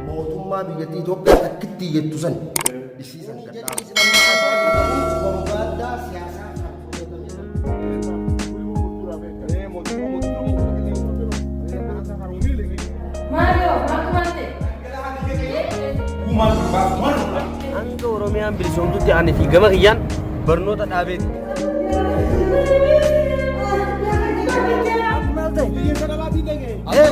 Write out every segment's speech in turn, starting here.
mootummaa biyyattii Itoophiyaa takkittii jettu san isii san gadhaa. Hanga Oromiyaan bilisoomtutti ani fi gama kiyyaan barnoota dhaabeeti. Maal ta'e?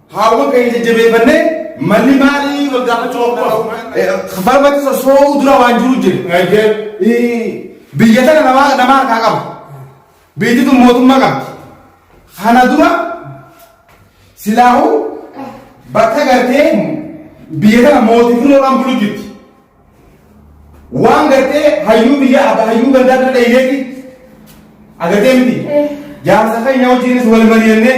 Haawwan keenya jajjabeeffannee malli maalii wal gaafachuu of qabu. Farmatti sossoo'uu dura waan jiru jira. Biyya tana nama nama harkaa qabu. Biyyi tun mootummaa qabdi. Kana dura silaahuu bakka gartee biyya tana mootii firoodhaan bulu jirti. Waan gartee hayyuu biyya abba hayyuu gandaa bira dhayineeti. Agartee miti. Jaarsa keenya wajjinis wal mari'annee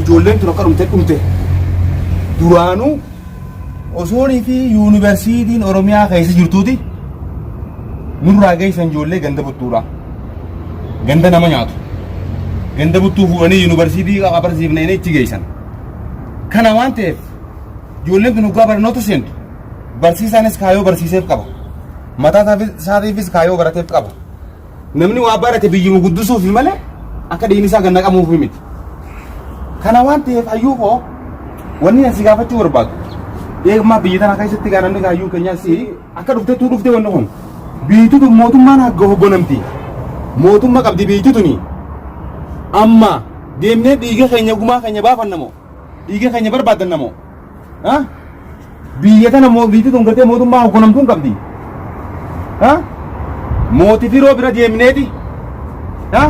Ijoolleen tun akka dhumte dhumte duraanuu osoonii fi yuunivarsiitiin Oromiyaa keessa jirtuuti nurraa geessan ijoollee ganda buttuudha. Ganda nama nyaatu. Ganda buttuu fuudhanii yuunivarsiitii qabarsiifne inni itti geessan. Kana waan ta'eef ijoolleen tun dhugaa barnoota seentu barsiisaanis kaayoo barsiiseef qaba. Mataa isaatiifis kaayoo barateef qaba. Namni waa barate biyyuma guddusuufi malee akka dhiigni isaa gad naqamuufi miti. Kana waan ta'eef hayyuu koo wanni ani si gaafachuu barbaadu. Eegmaa biyya tana keessatti gaa namni hayyuu keenyaa si akka dhuftettuu dhufte wanni kun. Biyyittii tun mootummaan hagga hoggonamti. Mootummaa qabdi biyyittii tuni. Amma deemnee dhiiga keenya gumaa keenya baafanna moo? Dhiiga keenya barbaaddanna moo? Ha? Biyya tana moo biitti tun gartee mootummaa hogganamtuu hin qabdi. Ha? Mooti firoo bira deemneeti. Ha?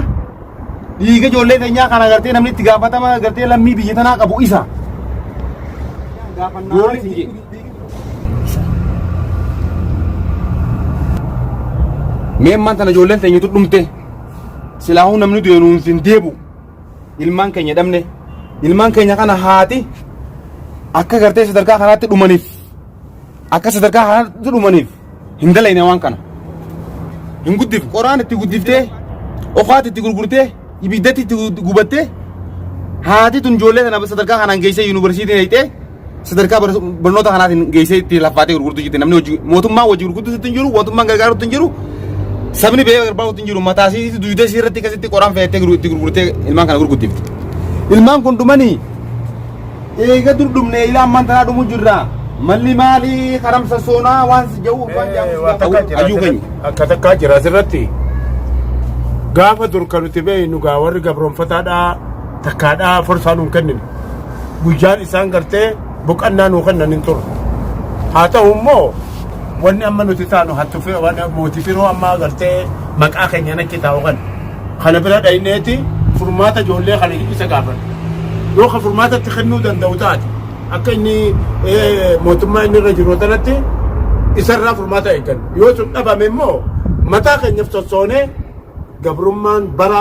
Dhiiga ijoollee keenyaa kana gartee namni itti gaafatama gartee lammii biyya tanaa qabu isa. Goolli isin jedhe. Mee ammaan tana ijoolleen teenyatu dhumte. Silaahuu namni du'e nuun sin deebu. ilmaan keenya dhabne ilmaan keenya kana haati akka gartee sadarkaa kanaatti dhumaniif akka sadarkaa kanaatti dhumaniif hin dalayne waan kana hin guddif qoraan itti guddiftee okaatti itti gurgurtee ibiddatti itti gubattee haati tun ijoollee kana sadarkaa kanaan geessee yuunivarsiitiin hidhee sadarkaa bar- barnoota kanaatiin geessee itti laffaatee gurgurtu jirti namni hojii mootummaan hojii gurgurtu sitti hin jiru mootummaan gargaarutti hin jiru sabni bee gargaarutti hin jiru mataa isii duudee isii irratti akkasitti qoraan fe'attee gurgu- itti gurgurtee ilmaan kana gurgurtifti ilmaan kun dhumanii eega dur dhumne ilaa ammaan tanaa dhumu jirra malli maali karamsa soonaa waan si ja'u waan ja'u Waa takka jira ayyuu keenya asirratti- akka takkaa jira asirratti gaafa dur kan nuti beeknu gaa warri gabroonfataadhaa takkaadhaa forsaa nuun kennine guyyaan isaan gartee boqannaa nuu kennan hin turre. Haa ta'u immoo wanni amma nuti taanu hattu fi waan mootii firoo amma gartee maqaa keenya natti taa'u kan kana bira dhayneeti furmaata ijoollee kana isa gaafadha. Yoo ka furmaata itti kennuu danda'u taate akka inni eh, mootummaa inni irra jiru tanatti isarraa furmaata eegganna. Yoo sun dhabame immoo mataa keenyaf sossoonee gabrummaan bara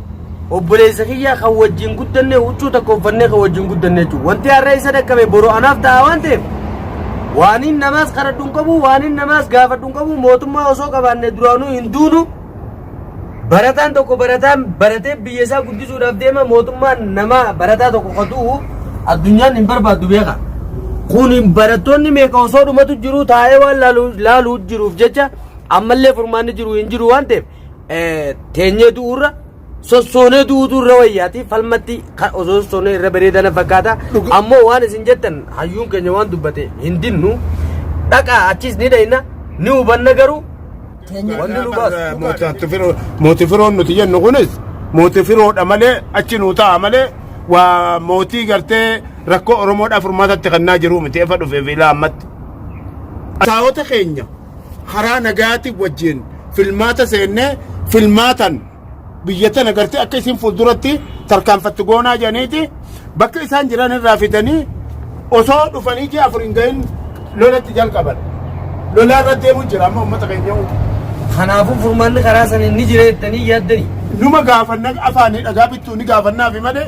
Obboleessa kiyya kan wajjin guddanne huccuu tokko uffannee kan wajjin guddanne jechuudha. Wanti har'a isa dhaqqabe boru anaaf ta'a waan ta'eef waaniin namaas kadhadhu hin qabu waaniin namaas gaafadhu hin qabu mootummaa osoo qabaanne duraanuu hin duunu barataan tokko barataan baratee biyya isaa guddisuudhaaf deema mootummaan nama barataa tokko qotuu addunyaan hin barbaaddu beeka. Kun barattoonni meeqa osoo dhumatu jiru taa'ee waan laaluu jiruuf jecha ammallee furmaanni jiru hin jiru waan ta'eef teenyee du'uurra sossoonee du'uutu irra wayyaati falmatti kan osoo sossoonee irra bareedana fakkaata Dhuga- ammoo waan isin jettan hayyuun keenya waan dubbate hin dinnu dhaqaa achiis ni dhayna ni hubanna garuu wanni nu baasu Mootii firoon nuti jennu kunis mootii firoodha malee achi nuu ta'a malee waa mootii gartee rakkoo Oromoodhaaf furmaatatti kannaa jiru miti efa dhufeef ilaa ammatti. Saawota keenya karaa nagaatiin wajjin filmaata seennee filmaatan biyya tana gartee akka isin fuulduratti tarkaanfattu goonaa jedhaniiti bakka isaan jiran irraa fidanii osoo dhufanii ji'a afur hin gahin lolatti jalqaban. Lolaa irra deemu jira amma uummata keenya Kanaafuu furmaanni karaa saniin ni jira jettanii yaaddanii. numa gaafanna afaanii dhagaa bittuu ni gaafannaafi malee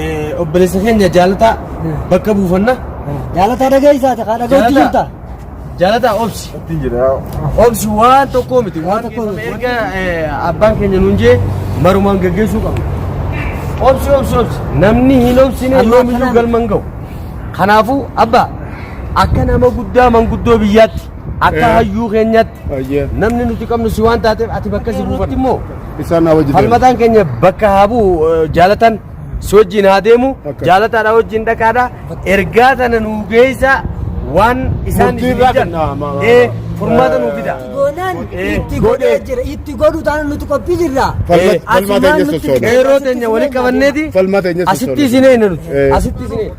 Eh, Obboleessa keenya jaalataa bakka buufanna. Jaalataa dhageessaa ta'a dhaga'uutti jirta. Jaalataa obsi. Ittiin jira. Obsi waan tokkoo miti. Waan tokkoo miti. Erga eh, abbaan keenya nuun jee marumaan gaggeessuu qabna. Obsi obsi obsi. Namni hin obsine Amma yoomiyyuu akkanaan- galma hin ga'u. Kanaafuu abbaa akka nama guddaa manguddoo biyyaatti Akka hayyuu keenyatti Ayyee. namni nuti qabnu si waan taateef ati bakka si buufanna. immoo Isaan na wajjin. falmataan keenya bakka haa bu'u eh, jaalatan si wajjin haa deemu Akka. jaalataadha wajjin dhaqaadha ergaa tana nuu geessa waan isaan Murtii isin irraa jedhan kenna, ma- ma- eh, furmaata nuu fida. Goonaan Eh, itti godhee godhe. jira. Itti godhu taana nuti qophii jirra. Falma- Eh, falmaa asumaan keenya nuti- sossoona. Qeerroo teenya walitti qabanneeti Falmaa teenya asitti sossoona. isin eegna nuti Eh. asitti isin eegna.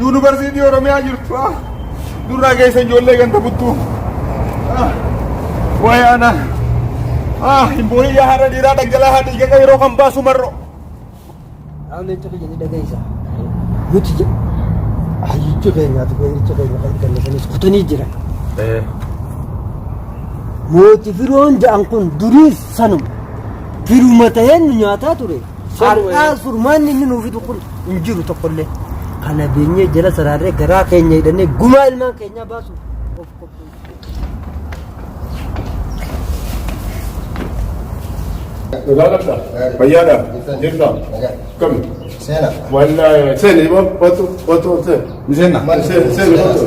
Yuunivarsiitii Oromiyaa jirtu ah. Durraa geessan ijoollee ganda buttuu. Ah. Waa'ee aanaa. Ah, hin boo'in yaa haadha dhiiraa dhangala'aa dhiiga qeeroo kan baasu marroo. Haallicha keenya ni dhageessa. Nuti jedhu hayyicha keenyaatu keenyicha keenya kan gallataniis kutanii jiran. Mooti firoon ja'an kun duriis sanuma. Firuma ta'een nu nyaataa ture. Har'aa furmaanni inni nuu fidu kun hin jiru tokkollee. Kana beenyee jala saraarree garaa keenya hidhannee gumaa ilmaan keenyaa baasuuf of qopheessu. Nagaaladha. Fayyaadha. Jirta. Kami. Seena. Wallaahi. Seeni boo. Otu. Otu. Seeni. Miseenna. Seeni. Seeni. Otu.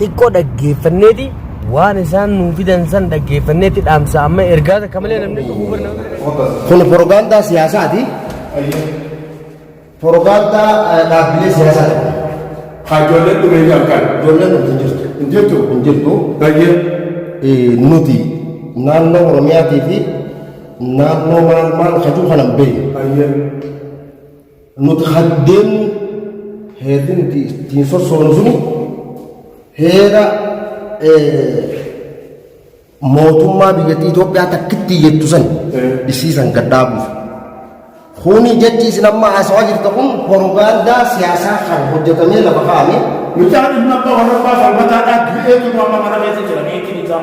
xiqqoo dhaggeeffanneeti waan isaan nuu fidan san dhaggeeffanneeti dhaamsa amma ergaa takka malee namni tokko barna Kun porogaandaa siyaasaati. Porogaandaa eh, dhaabbilee siyaasaati. Hajoolleen dhumee jalqan. Ijoolleen nuti hin jirtu. Hin jirtu. Hin jirtu. Bayyee. Eh, Nuti naannoo Oromiyaatii fi naannoo maal maal hajuu kana hin beeknu. Bayyee. Nuti kan deemnu heerri nuti ittiin sossoonu sun heera mootummaa biyyattii Itoophiyaa takkitti jettu san isii san gad dhaabuuf. Kuni jechi isin amma haasawaa jirtu kun porogaandaa siyaasaa kan hojjetamee lafa kaa'ame. Mucaan ilma abbaa warra abbaa falmataadhaa du'ee jiru amma mana keessa jira meetiin isaa.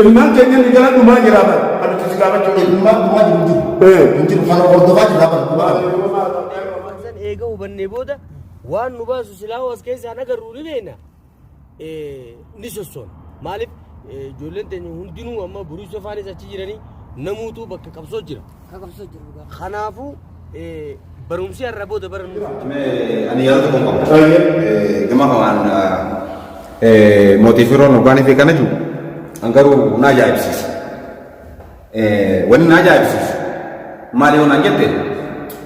Ilmaan keenya inni gara dhumaa jira bara. Kan nuti si gaafachuu qabnu. Ilmaan dhumaa jiru jiru. Eh. Hin jiru. Kan hordofaa jira bara. Dhumaa kana. Waan san eega hubannee booda waan nu baasu silaa as keessaan agarru ni beekna. Eh, Ni sossoona. Maaliif eh, ijoolleen teenya hundinuu amma buruusa faanis achi jiranii namuutu bakka qabsoo jira. kan qabsiisaa jiru dhugaa. Kanaafuu barumsi har'a booda barannu. Ani yaada tokko hin qabu. Gama kanaan mootii firoon hoggaanii fi kana jiru an garuu na ajaa'ibsiisa. Wanni na ajaa'ibsiisu maali yoo naan jette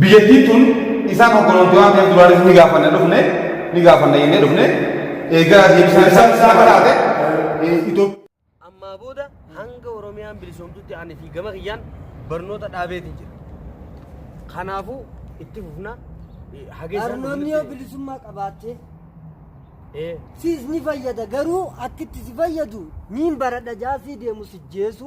Biyyattii tun isaan hogganuutti waan ta'eef duraanis ni gaafanna dhufne ni gaafanna jennee dhufne eegaa deebisaan isaan isaa baraate Itoophiyaa. ammaa booda hanga oromiyaan bilisoomtutti ani fi gama kiyyaan barnoota dhaabeeti jira kanaafuu itti fufna eh, hageessaan Barnoonni yoo dhufnutti- bilisummaa qabaatte Eh, siis ni fayyada garuu akkitti si fayyadu niin baradha jaasii deemu si jeesu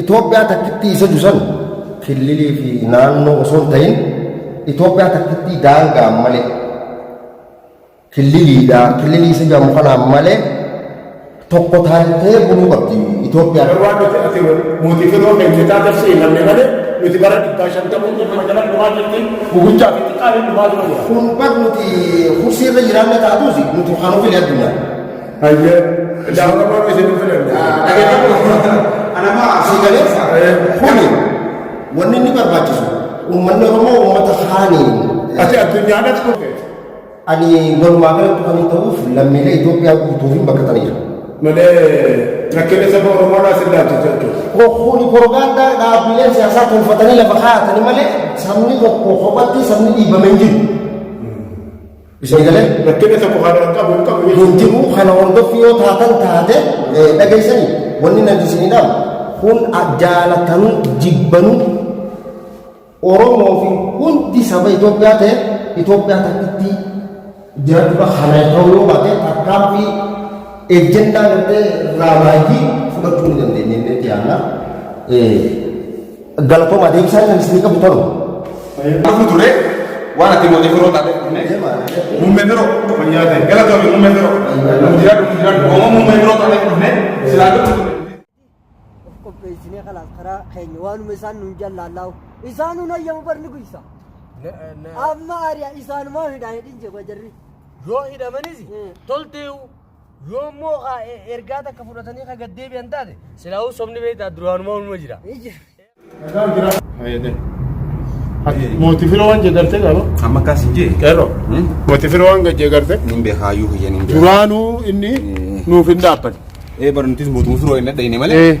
Itoophiyaa takkittii isa jusan killilii fi naannoo osoo hin ta'in Itoophiyaa takkittii daangaa malee killiliidha killilii isa jedhamu kanaan malee tokko taatee buluu qabdi Itoophiyaan. Garuu waan nuti ati mootii filoo keenya taate seenamne malee nuti bara dhibbaa shantamuu keenya magaalaa dhumaa jirti gugurchaa fi xiqqaa hin dhumaa turan. Kun bar nuti kursiirra jiraanne taatus nuti kan ofii addunyaa. Hayyee. Jaarraa waan isin hin filanne. Anama asii galeessa kuni wanni inni barbaachisu uummanni Oromoo uummata haaniin Ati addunyaadhaas kufe. ani walumaa galatti kan ta'uuf lammiilee Itoophiyaa guutuuf hin bakkataniiru. Malee rakkina saba Oromoodhaa si ilaalchisa jechuudha. Kuni porogaandaa dhaabbileen siyaasaa tolfatanii lafa kaa'atanii malee sabni tokko kophaatti sabni dhiibame hin jiru. Sagalee rakkina tokko kan hin qabu hin qabu. Hin jiru kana hordoffi yoo taatan taate dhageessanii wanni nati isinidhaam kun jaalatanii jibbanuu Oromoo fi hundi saba Itoophiyaa ta'e Itoophiyaa takkitti jiraachudha kana ta'uu yoo baate tarkaanfii ejjennaa gartee raamaayyii fudhachuu ni dandeenya inni itti aanna. Galatoomaa deebisaa kan isin qabu tolu. Dhufu ture waan ati mootii biroo taate muummee biroo fayyaa ta'e galatoomi muummee biroo jiraadhu jiraadhu oomoo muummee biroo taate dhufne silaa dhufu ture. of qopheessinee kalaas karaa keenya waanuma isaan nuun jallaallaahu isaan nuun hayyamu barni guysa amma ari'a isaanumaa hidhaa hidhin jee jarri yoo hidhamanis tolteewu Yoo immoo ka e- ergaa takka fudhatanii ka gad deebi'an taate silaahuu sobni beektaa duraanuma ulma jira. Mooti firoo waan jeegarte qaba. Amma akkas hin jee. Qeerroo. Hmm? Mooti firoo waan gad jeegarte. Nin beekaa hayyuu kiyya nin beekaa. Duraanuu inni nuuf hin dhaabbanne. Ee barnutis mootummaa firoo hin dhadhayne malee. Ee.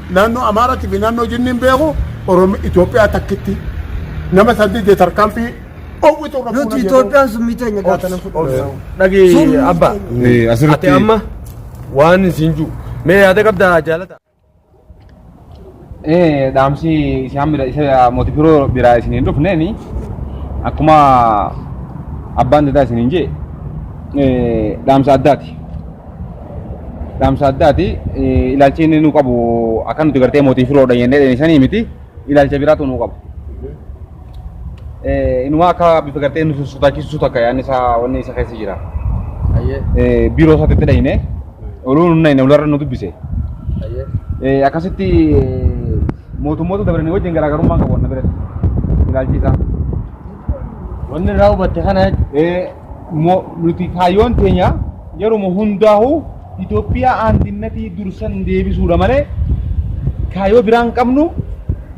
Naannoo Amaaraatii fi naannoo Jinniin beeku Oromi Itoophiyaa takkitti nama san didde tarkaanfii owwitu irra Nuti fuuna jedhu. Itoophiyaan summii teenya gaata nan fudhanna. Dhagi Summii abba. teenya. Eh, Ati asirratti amma waan isin jiru. Mee yaada qabda jaalata. Eh, dhaamsi isaan bira isa mootii firoo biraa isin hin dhufneeni akkuma abbaan dadaa isin hin jee eh, dhaamsa addaati. Dhaamsa addaati. Ilaalchi inni nu qabu akka nuti gartee mootii firoodha jennee dheeysanii miti. Ilaalcha biraatu nu qaba. Inuma akka bifa gartee nu sodaachisuu takka yaadni isaa wanni isa keessa jira. Biiroo isaatti itti dhayne. Oluu nu dhayne olarra nu dubbise. Akkasitti mootummoota dabranii wajjin garaagarummaa qabu wanna biratti. Ilaalchi isaa. Wanni irraa hubatte kana jechuudha. Mo, nuti kaayyoon teenya yeruma hundaahu Itoophiyaa aandinnatii dursan deebisuudha malee kaayyoo biraa hin qabnu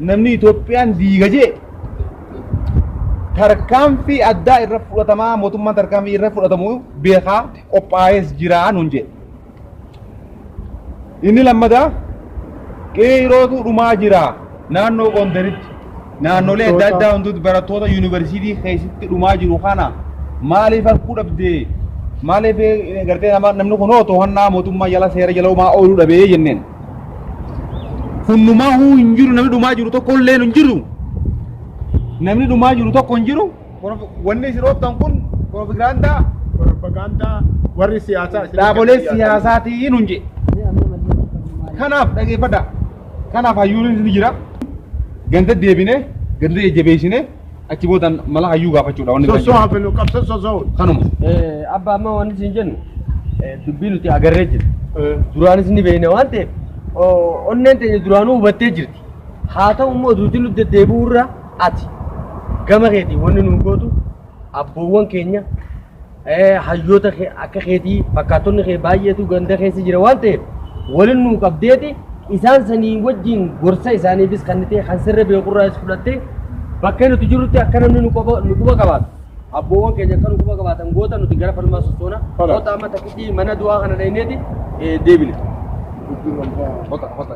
namni Itoophiyaan diiga jee tarkaanfii addaa irra fudhatamaa mootummaan tarkaanfii irra fudhatamu beekaa qophaayees jiraa nuun jee. Inni lammataa qeerootu dhumaa jira naannoo Gondaritti naannolee adda addaa hunduutti barattoota yuunivarsiitii keessatti dhumaa jiru kana maaliif harkuu dhabdee maaliif eh, gartee nama namni kun hoo to'annaa mootummaa jala seera jala homaa ooluu dhabee jenneen. Hundumaa huu hin jiru namni dhumaa jiru tokko illee hin jiru. Namni dhumaa jiru tokko hin jiru. Wanni isin ooftan kun piroopagaandaa Propaganda warri siyaasaa isin dhaabolee keessa jiraatan. siyaasaatii nun jedhe. Kanaaf dhageeffadhaa. Kanaaf hayyuun ni jira. Ganda deebinee ganda jajjabeessinee achi booda mala hayyuu gaafachuudha wanni biraan Sosoo jiru. hafinu qabsa sosoo. Kanuma. Abba amma wanti isin jennu eh, dubbii nuti agarree jirra. Duraanis ni beekna waan ta'eef o- onneen teenya duraanuu hubattee jirti. Haa ta'u immoo duuti nu deddeebi'u irra Ati gama keetiin wanni nuu gootu abboowwan keenya eh, hayyoota kee- akka keetii fakkaattonni kee baay'eetu ganda keessa jira waan ta'eef waliin nuu qabdeeti isaan sanii wajjin gorsa isaaniifis kan ta'e kan sirra beekurraas fudhattee bakka nuti jirutti akka namni nu quba nu quba qabaatu abboowwan keenya akka nu quba qabaatan goota nuti gara falmaa sochoona Tola. goota amma takkitti mana du'aa kana dhayneeti eh, deebine. Kota, kota.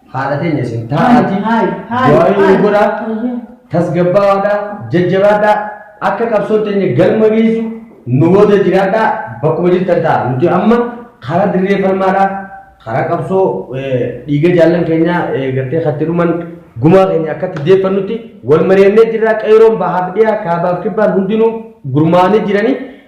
Haadha teenya isin taa'aati. Du'aayi nu godhaa. Tasgabbaawaadhaa. Jajjabaadhaa. Akka qabsoon teenya galma geessu nu booda jiraadhaa. Bakkuma jirtan ta'a. Nuti amma karaa dirree falmaadhaa. Karaa qabsoo dhiiga jaallan keenyaa gartee katti dhuman gumaa keenya akkatti deeffannutti wal mari'annee jirraa qeeroon bahaaf dhiyaa kaabaaf kibbaan hundinuu gurmaa'anii jiranii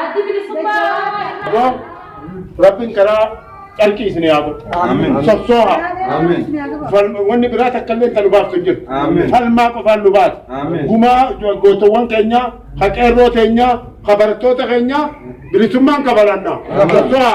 Addi bilisummaa Oromoo irraa. Yoo rabbiin karaa carqii isin haa godhu. Amiin. Sossooha. Amiin. Falma- Wanni biraa takka illee kan nu baaftu hin jirtu. Amiin. Falmaa qofaan nu baatu. Amiin. Gumaa jo- gootowwan keenyaa, ka qeerroo keenyaa, ka barattoota keenyaa bilisummaan kabalanna. Sossooha.